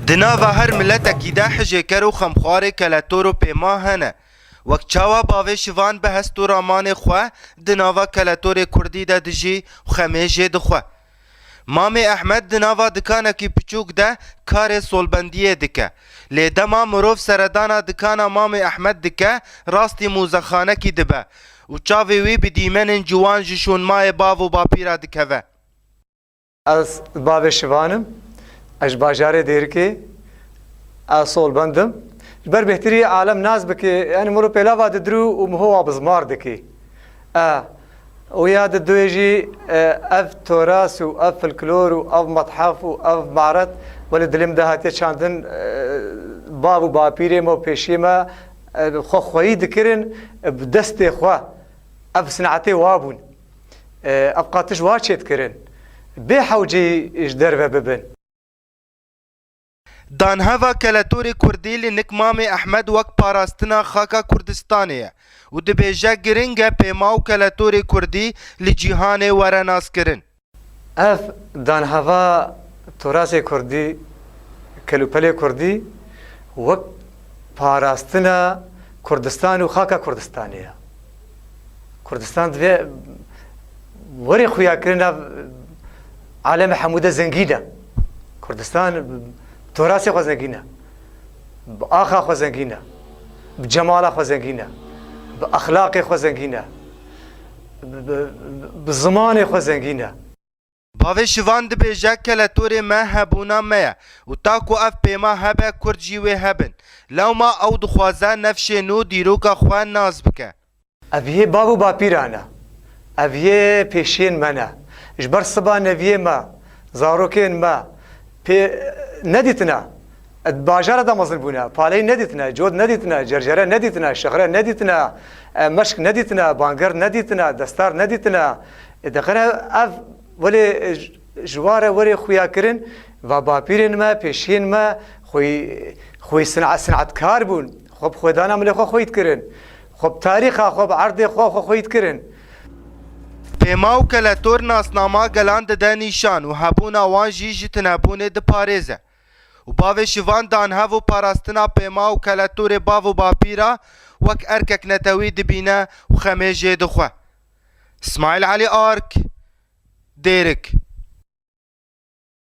Di nava her miletekî de hijêker û xemxwarê keletor û pêma hene. Wek çawa bavê şivan bi hest û ramanê xwe di nava keletorê kurdî de dijî û xemê jê dixwe. Mamê Ehmed di nava dikanekî piçûk de karê solbendiyê dike. Lê dema mirov seredana dikana mamê Ehmed dike rastî mûzexanekî dibe û çavê wî bi dîmenên ciwan ji şûnmayê bav û bapîra dikeve. Ez bavê Şivan im. Ez ji bajarê Dêrikê. Ez solbend im. Ji ber bêhtirî alem nas bike, yanî min ro pêlava didirû û min howa bi zimar dike. E, û ya di duyê jî e, ev toras û ev filklor û ev methef û ev maret welê dilê min de hatiye çandin e, bav û bapîrê me û pêşiyê me e, xwe xweyî dikirin e, bi destê xwe. Ev sinetê wa bûn. Ev qatiş wa çêt kirin. Bê hewcî ji derve bibin. Danheva keletorê kurdî li nik Mamê Ehmed wek parastina xaka Kurdistanê ye û dibêje giring e pêma û keletorê kurdî li cîhanê were naskirin. Ev danheva turasê kurdî, kelûpelê kurdî wek parastina Kurdistan û xaka Kurdistanê ye. Kurdistan divê werê xuyakirina aleme hemû de zengîn e. Kurdistan torasê xwe zengîn e. Bi axa xwe zengîn e. Bi cemala xwe zengîn e. Bi exlaqê xwe zengîn e. Bi zimanê xwe zengîn e. Bavê Şivan dibêje keletorê me hebûna me ye û ta ku ev pêma hebe Kurd jî wê hebin. Lewma ew dixwaze nefşê nû dîroka xwe nas bike. Ev yê bav û bapîran e. Ev yê pêşiyên me ne. Ji ber siba neviyê me, zarokên me pê nedîtine. Di bajara de mezin bûne, paley nedîtine, cod nedîtine, cercere nedîtine, şixre nedîtine, meşk nedîtine, bangir nedîtine, destar nedîtine. Diqire ev welê ji ware werê xuya kirin va bapîrên me, pêşiyên me xwî xwî sinetkar bûn. Xwe bi xwedana milê xwe xwît kirin. Xwe bi tarîxa xwe, bi erdê xwe xwe xwît kirin. Pêma û keletor nasnama gelan dide nîşan û hebûna wan jî ji tunebûnê diparêze. û bavê şivan dan hev û parastina pêma û keletorê bav û bapî re wek erkek netewî dibîne û xemê jê dixwe. Smaîl Elî Ark, Dêrik.